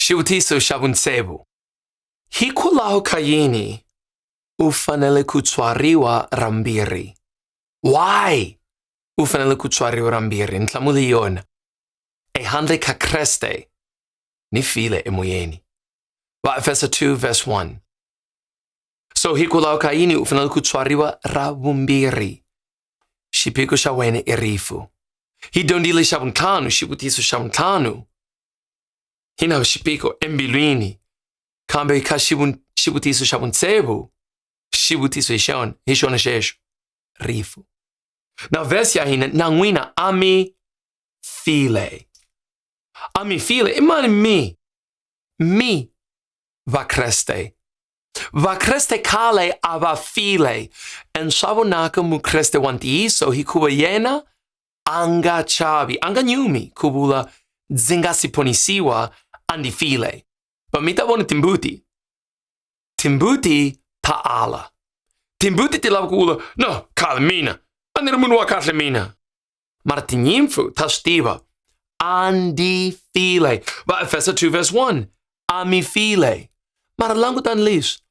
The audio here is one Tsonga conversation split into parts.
Xivutiso xa vuntsevu. Hikwalaho ka yini u fanele ku tswariwa ra mbirhi? Why u fanele ku tswariwa ra mbirhi? Nhlamulo hi yona. Ehandle ka Kreste ni file emoyeni. Vaefeso 2 verse 1. So hikwalaho ka yini u fanele ku tswariwa ra vumbirhi? Xiphiqo xa wena i rifu. Hi dyondzile xa vuntlhanu, xivutiso xa vuntlhanu. Hina xipiko embilwini, kambe kha xivutiso xa vuntsevu xivutiso hi xona hi xona xexo rifu na vhesi ya hina na n'wina a mi file a mi file i mani mi mi vakreste vakreste khale a va file and swa vonaka mukreste wa ntiyiso hikuva yena anga chavi, anga nyumi kubula dzingasi ponisiwa andifile. Pamita bona timbuti. Timbuti paala. Timbuti tilava kubula, no, kala mina. Anira munu wa kahle mina. Mara tinyimfu ta stiva. Andifile. Va Efesa 2 verse 1. Amifile. Mara langutan lis.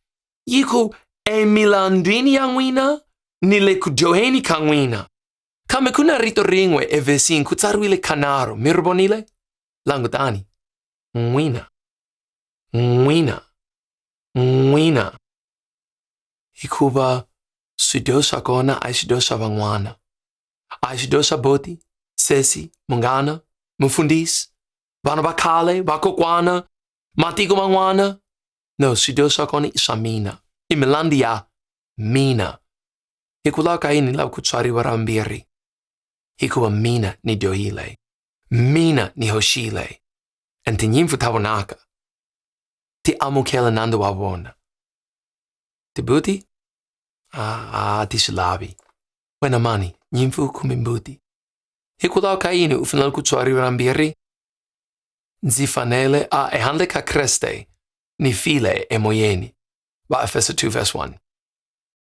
Yiku emilandini ya n'wina ni le ku dyoheni ka n'wina. Kambe ku na rito rin'we evhesini ku tsariwile kanharhu, mi ri vonile? Langutani. N'wina. N'wina. N'wina. Hikuva swidyo swa kona a hi swidyo swa van'wana. A hi swidyo swa boti, sesi, munghana, mufundhisi, vana va khale, vakokwana, matiko man'wana. No, swidyo swa kona i swa mina. I milandi ya mina. hikwalaho ka yini ni lava ku tswariwa ra vumbirhi hikuva mina ni dyohile mina ni hoxile and tinyimpfu ta vonaka ti amukela nandzu wa vona tibuti a a ti swi lavi wena mani nyimpfu kumbe mbuti hikwalaho ka yini u fanele ku tswariwa ra mbirhi ndzi fanele a ehandle ka kreste ni file emoyeni va efeso 2 verse 1